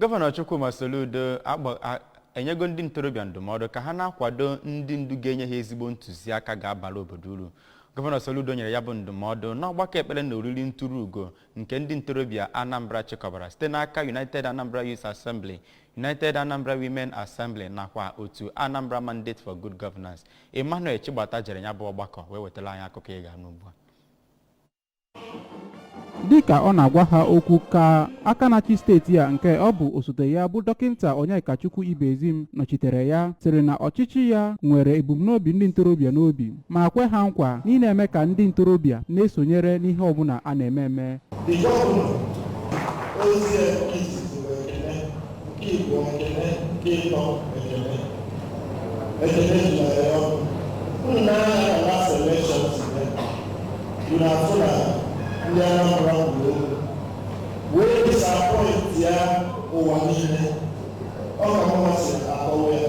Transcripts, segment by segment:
gọvanọ chukwuma soludo agba- a- enyego ndị ntorobịa ndụmọdụ ka ha na-akwado ndị ndu ga-enye ha ezigbo ntụziaka ga-abara obodo uru gọvanọ soludo nyere ya bụ ndụmọdụ n'ọgbakọ ekpere na oriri nturu ugo nke ndị ntorobịa anambra chịkọbara site n'aka united anambra youth assembly united anambra women assembly nakwa otu anambra mandate for good governance emmanuel chigbata jere ya bụ ọgbakọ wee wetara anyị akụkọ ị ga-anụ ugbu a dịka ọ na-agwa ha okwu ka aka na-achị steeti a nke ọ bụ osote ya bụ dọkịta Onyekachukwu Ibezim nọchitere ya sịrị na ọchịchị ya nwere ebumnobi ndị ntorobịa n'obi ma kwe ha nkwa na ịna-eme ka ndị ntorobịa na-esonyere n'ihe ọbụla a na-eme eme Igbo ekele dị ịtọ ekele ekele jụlere ya ọkụ unu na-anya na last election today you na afụ na ndị Anambra kwuru okwu wee disappointia ụwa niile ọ ka mmasị akọwa ya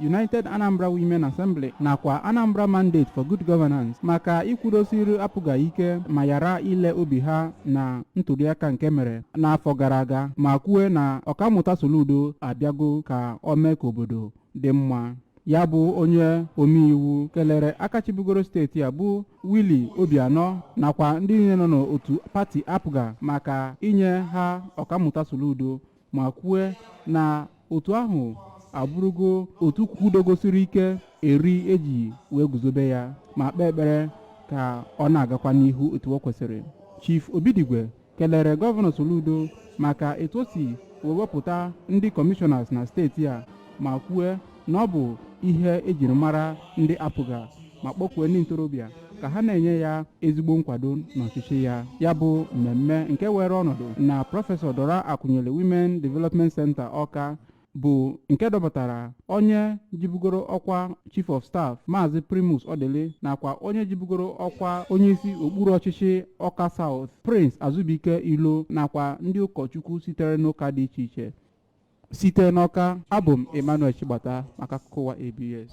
United Anambra Women Assembly nakwa Anambra Mandate for Good Governance maka ikwudosiri APGA ike ma yara ile obi ha na ntụliaka nke e mere n'afọ gara aga ma kwue na ọkammụta Soludo abịago ka o mee ka obodo dị mma ya bụ onye omeiwu kelere aka chịbugoro steeti a bụ Willie Obianọ nakwa ndị niile nọ n'otu pati APGA maka inye ha ọkammụta Soludo ma kwue na otu ahụ abụrụgo otu kwudogosiri ike eri e ji wee guzobe ya ma kpee ekpere ka ọ na-agakwa n'ihu etu o kwesịrị chief obidigwe kelere gọvanọ soludo maka etu o si wee wepụta ndị kọmishọnas na steeti a ma kwue na ọ bụ ihe e jiri mara ndị apga ma kpọkuo ndị ntorobịa ka ha na-enye ya ezigbo nkwado n'ọchịchị ya ya bụ mmemme nke weere ọnọdụ na prọfesọ dora akunyili women development center ọka bụ nke dọpụtara onye jibugoro ọkwa chief of staff maazị primus odili nakwa onye jibugoro ọkwa onyeisi okpuru ọchịchị ọka south prince azubike ilo nakwa ndị ụkọchukwu sitere n'ụka dị iche iche Site n'Ọka, abụ m Emmanuel Chigbata maka akụkọ ụwa ABS.